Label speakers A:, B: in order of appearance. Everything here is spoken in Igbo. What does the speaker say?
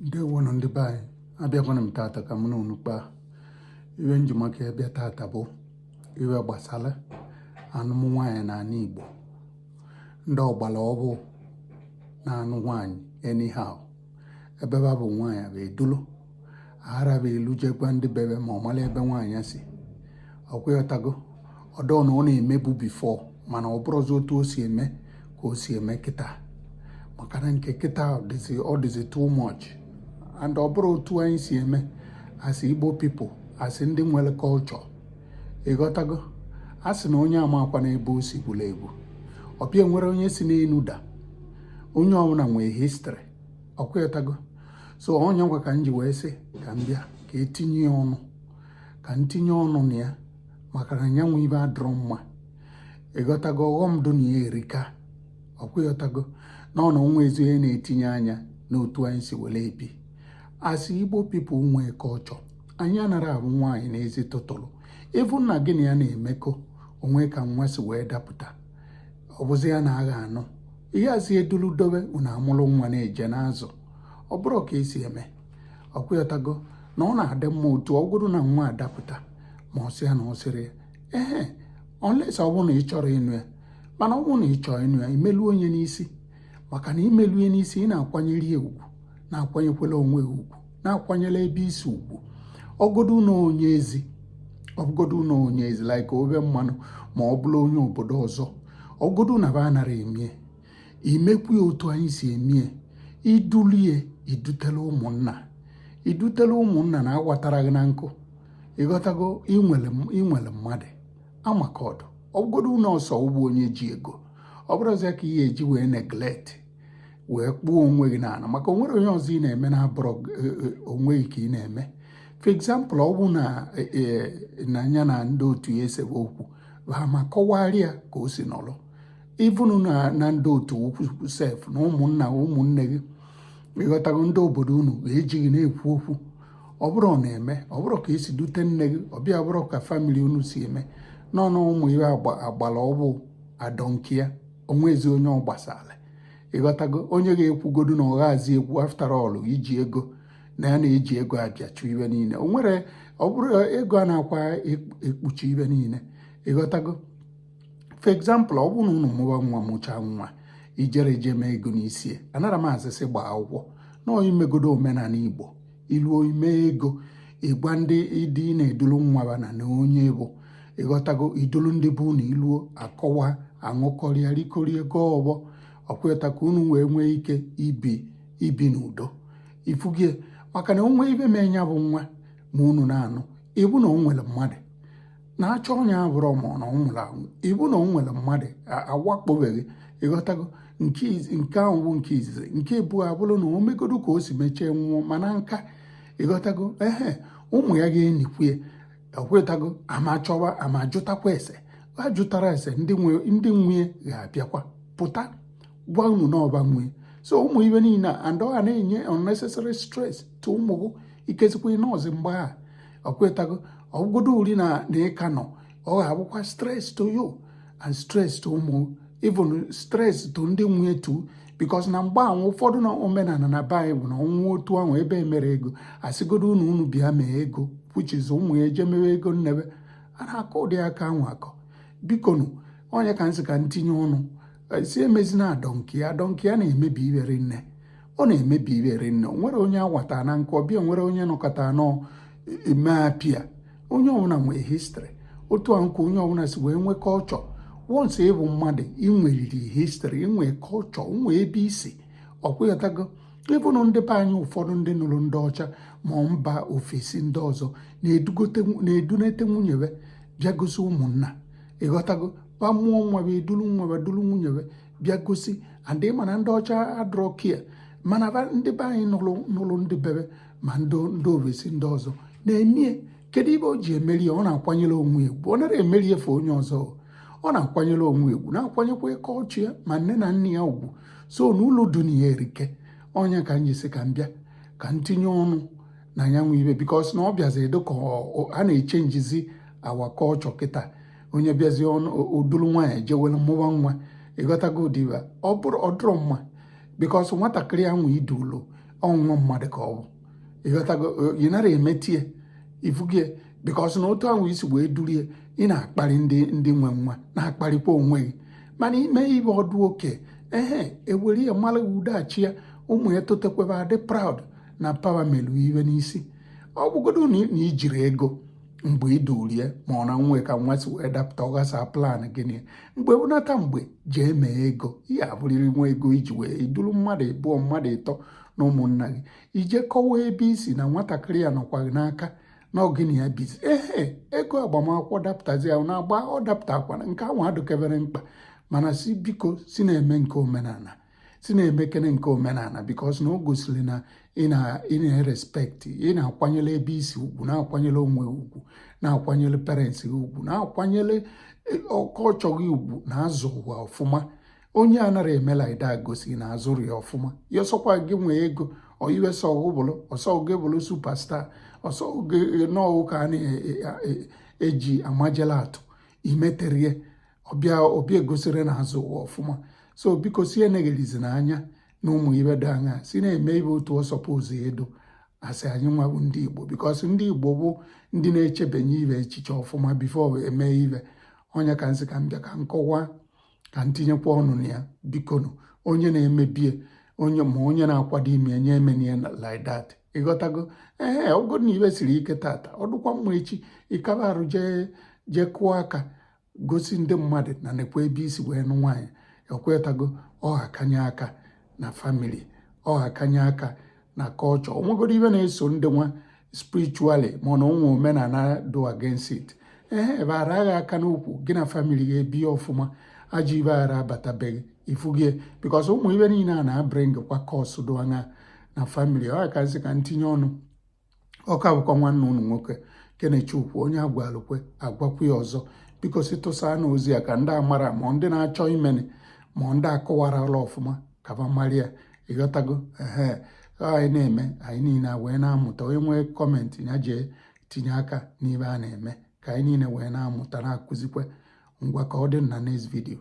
A: ndewonụ ndị be anyị abịakwana m tata ka m na unu kpaa ibe m ji maka ya bịa tata bụ ibe gbasara anụm nwaanyị n'anị Igbo ndị ọgbara ọhụụ na-anụ nwaanyị anyhow ebe ba bụ nwaanyị ba edulu araba elu jekwa ndị be ba ma ọ mara ebe nwaanyị si ọkwa ịghọtago ọ dọ na ọ na-emebu before mana ọ bụrọzi otu o si eme ka o si eme kịta maka na nke kịta ọ dịzi too much and ọ bụrọ otu anyị si eme as Igbo people as ndị nwere culture ịghọtago a sị na onye ama akwa n'ebe o si gwụla egwu ọbịa enwerọ onye si n'elu daa onye ọbụla nwee history ọkwa ịghọtago so ọ nya nwa ka m ji wee sị ka m bịa ka etinye ya ọnụ ka m tinye ọnụ na ya maka na ya nwe ibe adọrọ mma ịghọtago ọghọm dụ na ya erika ọkwa ịghọtago na ọ na onwezi onye na-etinye anya n'otu anyị si were ebi as Igbo people nwee culture anyị anara abụ nwaanyị n'ezi tụtụrụ ị bụ na gị na ya na-emekọ o nwee ka nwa si wee dapụta ọ bụzi ya na a ga-anụ ị ga-azị edulu dobe unu amụrụ nwa na-eje n'azụ ọ bụrọ ka e si eme ọkwa ịghọtago na ọ na-adị mma otu ọgodu na nwa adapụta ma ọ sị ya na ọ sịrị ya ee unless ọ bụrụ na ị chọrọ ịnụ ya mana ọ bụrụ na ị chọọ ịnụ ya imelu onye n'isi maka na imelue n'isi ị na-akwanyere ya ugwu na-akwanyekwela onwe gị ugwu na-akwanyere ebe i si ugwu ọgodu na onye ezi ọgodu na onye ezi like obe mmanụ ma ọ bụrụ onye obodo ọzọ ọgodu na ba anara emie imekwu ya otu anyị si emie i dulu ye idutela ụmụnna idutela ụmụnna na awatara gị na nkụ ịghọtago i nwere mmadụ a ma ka ọ dụ ọgodu na ọ sị ọ bụ onye ji ego ọ bụrọzi ya ka ị ya-eji wee neglect wee kpụọ onwe gị n'ala maka o nwerọ onye ọzọ ị na-eme na-abụrọ e, e, onwe gị ka ị na-eme for example ọ bụ na e, na nya na ndị otu ya esebe okwu ba ma kọwara ya ka o si nọrọ ịbụnụ na ndị otu okwu sef na ụmụnna ụmụnne gị ịghọtago ndị obodo unu ga-eji gị na-ekwu okwu ọ bụrụ ọ na-eme ọ bụrụ ka e si dute nne gị ọ bịa bụrụ ka family unu si eme nọ na ụmụ ọgbara ọhụụ I don't care onwezi onye ọ gbasara ịghọtago onye ga-ekwugodu na ọ ga-azị ekwu after all i ji ego na ya na-eji ego abịachụ ibe niile o nwere ọ bụrụ ego anakwa ekpuchi ibe niile ịghọtago for example ọ bụrụ na unu mụba nwa mụchaa nwa i jere eje mee ego n'isi anara m asị sị gbaa akwụkwọ na i megodu omenala Igbo iluo ime ego ịgwa ndị ịdị na i dulu nwa ba na na onye bụ ịghọtago idulu ndị bụ na iluo akọwa aṅụkọrịa rikorie gọọ ọfọ ọkweta ka unu wee nwee ike ibi ibi n'udo ifugie maka na o nwee ibe mee nya bụ nwa ma unu na-anụ ịbụ na o nwere mmadụ na-achọ onye ọ bụrụ ma na ọ nwụrụ anwụ ịbụ na ọ nwere mmadụ awakpobeghị ịghọtago nke ahụ nke izizi nke ịbụọ ọ bụrụ na o megodu ka o si mechie nwụọ mana nka ịghọtago ehe ụmụ ya ga-enikwu ya ekwetago a ma chọwa a ma jụtakwa ese ha jụtara ese ndị nwunye ga-abịakwa pụta gwa unu na ọ ba nwe ozu ụmụ ibe niile a and ọ ga na-enye unnecessary stress to ụmụ gị ikezikwa ị nọzị mgbe a ịghọtago ọ bụgodu uri na na ị ka nọ ọ ga-abụkwa stress to you and stress to ụmụ even stress to ndị nwunye too because na mgbe ahụ ụfọdụ na omenala na be bụ na ọ nwụọ otu ahụ ebe emere ego a sịgodu unu unu bịa mee ego which is ụmụ ya eje mewe ego nne be a na-akọ ụdị aka ahụ akọ bikonu ọ nya ka nsị ka ntinye ọnụ si emezina I don't care I don't care ya na-emebi ibe rinne ọ na-emebi ibe rinne nwere onye awata na nke ọbịa nwere onye nọkọta anọ eme appear onye ọbụla nwee history otu a nke onye ọbụla si wee nwee culture once ị bụ mmadụ i nweriri history i nwee culture nwee ebe i si ịghọtago ịbụrụ ndị be anyị ụfọdụ ndị nụrụ ndị ọcha ma mba ofesi ndị ọzọ na-edunata nwunye be bịagosi ụmụnna ịghọtago ba mụọ nwa be eduru nwa be duru nwunye be bịa gosi and mana ndị ọcha adịrọ care mana ndị be anyị nụrụ nụrụ ndị be be ma ndị ovesi ndị ọzọ na-emie kedu ibe o ji emeri ya ọ na-akwanyere onwe ya ugwu ọ nara emeri ife onye ọzọ ọ na-akwanyere onwe ya ugwu na-akwanyekwa culture ya ma nne na nna ya ugwu so na uru dị na ya erika ọ nya ka m ji sị ka m bịa ka m tinye ọnụ na nya bụ ibe because na ọ bịazi adị ka a na-echangezi our culture kịta onye bịazie odulu nwaanyị jewelu mụwa nwa ịghọtago ụdịba ọ bụrụ ọ dịrọ mma because nwatakịrị ya nwe i du ụlọ nwa mmadụ ka ọ bụ ịghọtago ị nara emetie ifugie because na otu ahụ i si wee durie ị na-akparị ndị ndị nwe nwa na-akparịkwa onwe gị mana i mee ibe ọ dị okay ehe ewere ya mara udachi ya ụmụ ya totekwe be adị proud na papa melu ibe n'isi ọ bụgodu na ijiri ego mgbe i durie ma ọ na nwe ka nwa si wee dapụta ọ ghasa plan gị nị mgbe ọbụna ta mgbe jee mee ego ị ya-eburiri nwa ego i ji wee duru mmadụ ịbụọ mmadụ ịtọ na ụmụnna gị i jee kọwa ebe i si na nwatakịrị ya nọkwa gị n'aka na ọ gị na ya bizi ehe ego agbamakwụkwọ dapụtazi ya na-agba ọ dapụtakwana nke ahụ adịkebere mkpa mana si biko si na-eme nke omenala si na-emekene nke omenala because na o gosiri na ị na-erespect ị na-akwanyere ebe i si ugwu na-akwanyere onwe ugwu na-akwanyere parents gị ugwu na-akwanyere culture gị ugwu na azụ ụwa ọfụma onye anara eme like that gosi na a zụrụ ya ọfụma ya ọ sọkwa gị nwee ego ọ ibe sọ gị bụlụ ọ sọ gị bụrụ superstar ọ sọ gị e, nọọ ka a na-eji e, amajela atụ imeterie ọbịa ọbịa egosiri na azụ ụwa ọfụma so biko si eneghelizina anya na ụmụ ibe dị anya si na-eme ibe otu ọ suppose edo a sị anyị nwa bụ ndị igbo because ndị igbo bụ ndị na-echebanye ibe echiche ọfụma before eme ibe ọ nya ka nsị ka m bịa ka nkọwa ka ntinyekwa ọnụ na ya bikonu onye na-emebie onye ma onye na-akwado ime enye emenie na like that ịghọtago ee ọ bụ na ibe siri ike tata ọ dụkwa mma echi ị kaba arụ jee jee kụọ aka gosi ndị mmadụ na nekwa ebe i si wee nụ nwaanyị ekwetago ọha kanye aka na family ọha kanye aka na culture o nwegoro ibe na-eso ndị nwa spiritually mana o nwe omenala do against it ee ebe ara agha aka n'ukwu gị na family gị ebie ọfụma ajọ ibe ara abatabeghị ifugie because ụmụ ibe niile a na-abring kwa curse do anya na family ọ ya ka ntinye ọnụ ọ ka bụkwa nwanne unu nwoke Kenechukwu onye a gwalụ kwe a gwakwu ya ọzọ biko si tụsaanụ ozi a ka ndị amara ma ndị na-achọ imeni ma ndị akọwarala ọfụma ka ba mara ya ịghọtago ehe anyị na-eme anyị niile wee na-amụta onye nwee comment ya jee tinye aka n'ibe a na-eme ka anyị niile wee na-amụta na-akụzikwa ngwa ka ọ dị na next video